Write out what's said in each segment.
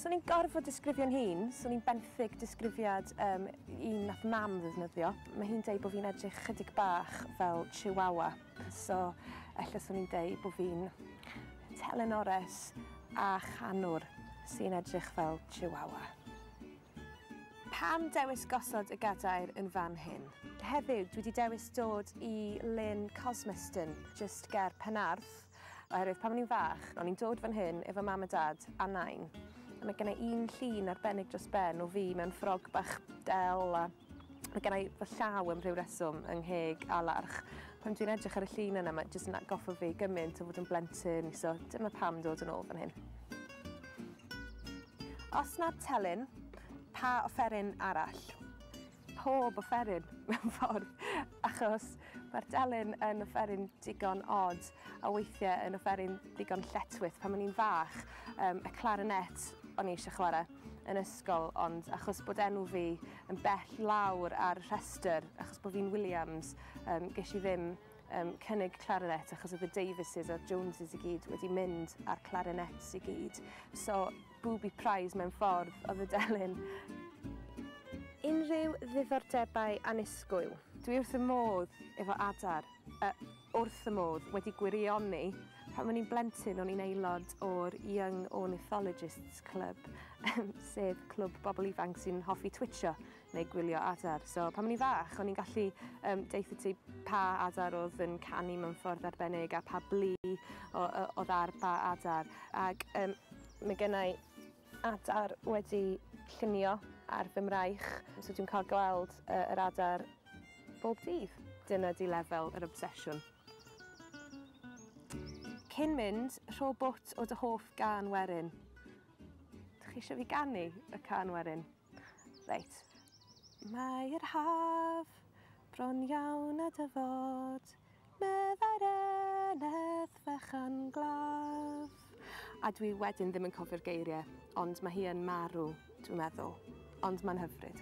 Swn i'n gorfod disgrifio'n hun, swn i'n benthyg disgrifiad um, un nath mam ddefnyddio. Mae hi'n deud bod fi'n edrych chydig bach fel chihuahua, so efallai swn i'n deud bod fi'n telenores a chanwr sy'n edrych fel chihuahua. Pam dewis gosod y gadair yn fan hyn? Heddiw, dwi wedi dewis dod i Lyn Cosmeston, just ger Penarth. Oherwydd pan o'n i'n fach, o'n i'n dod fan hyn efo Mam a Dad a Nain, a mae gennai un llun arbennig dros ben o fi mewn ffrog bach del a mae gennai fy llaw am rhyw reswm yng ngheg a larch. Pan dwi'n edrych ar y llun yna mae jyst yn atgoffa fi gymaint o fod yn blentyn, so dyma pam dod yn ôl fan hyn. Os nad telyn, pa offeryn arall? pob offeryn mewn ffordd achos mae'r delyn yn offeryn digon od a weithiau yn offeryn digon lletwyth. Pan o'n i'n fach, um, y clarinet o'n i eisiau chwarae yn ysgol ond achos bod enw fi yn bell lawr ar rhestr achos bod fi'n Williams, um, ges i ddim um, cynnig clarinet achos oedd y Davises a'r Joneses i gyd wedi mynd ar clarinets i gyd. So Booby prize mewn ffordd oedd y delyn. Unrhyw ddiddordebau annisgwyl? Dwi wrth y modd efo adar, yy wrth y modd, wedi gwirioni. Pan o'n i'n blentyn o'n i'n aelod o'r Young Ornithologists Club, sef clwb bobl ifanc sy'n hoffi twitsio neu gwylio adar. So pan o'n i'n fach, o'n i'n gallu um, deutha ti pa adar oedd yn canu mewn ffordd arbennig a pa blu oedd ar ba adar. Ac um, mae gennau adar wedi llunio ar fy mraich, so dwi'n cael gweld uh, yr adar bob dydd. Dyna di lefel yr obsesiwn. Cyn mynd, rho bwt o dy hoff gan werin. Dych chi eisiau fi ganu y can werin? Reit. Mae'r haf bron iawn a dyfod, meddai'r eneth fechan glaf. A dwi wedyn ddim yn cofio'r geiriau, ond mae hi yn marw, dwi'n meddwl. Ond mae'n hyfryd.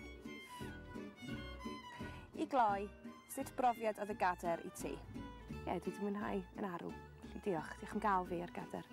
I gloi, Sut brofiad oedd y gader i ti? Ie, dwi 'di mwynhau yn arw. Felly diolch. Diolch am ga'l fi ar gader.